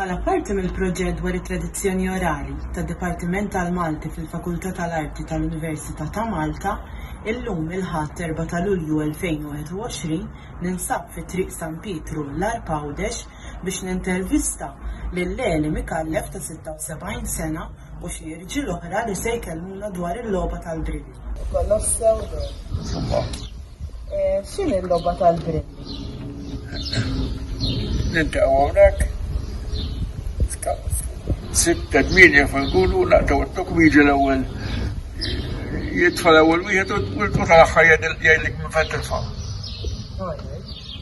Bħala parti mill-proġett dwar it-tradizzjoni orali tad-Dipartiment tal-Malti fil-Fakultà tal-Arti tal-Università ta' Malta, illum il-Ħadd 4 ta' Lulju 2021 ninsab fi Triq San Pietru, l-Għarb Għawdex, biex nintervista lil Leli Micallef ta' 76 sena u xi irġiel oħra li se jkellmuna dwar il-logħba tal-brilli. Kollox sew eh, X'inhi l-logħba tal-brilli? ninta għonek, sitta d-minja fil-gulu, naqtaw t-tukmiji l-ewel, jitfa l-ewel wieħed u l-tuta l-axħar jgħidlik minn fejn titfa'.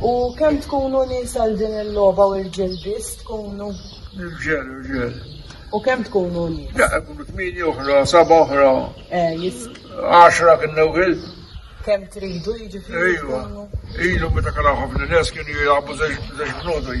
U kemm tkunu nisa għal din il-logħba u rġiel biss tkunu? Irġiel, irġiel. U kemm tkunu nisa? Daqqa kunu tmieni oħra, saba oħra. Eh, jisk. Għaxra kien newgħil. Kemm tridu jiġifieri? Ejwa. Ilu meta kien ħafna nies kienu jilagħbu żewġ bnodi.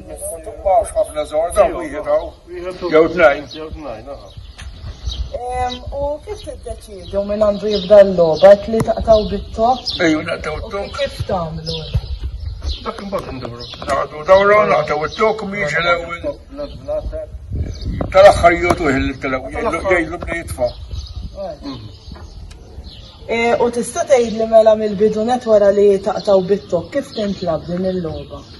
U kif tiddeċidu minn għandu jibda l-logħba li taqtaw bit-tok? Ejju naqtaw it-tok. Kif tagħmlu? Dak imbagħad nduru. Naqdu dawra naqtaw it-tok mhix l-ewwel. Tal-aħħar jotu il-telaw jgħidlu bda jitfa'. Eh, u tista' tgħidli mela mill-bidunet wara li taqtaw bit-tok kif tintlab din il-logħba?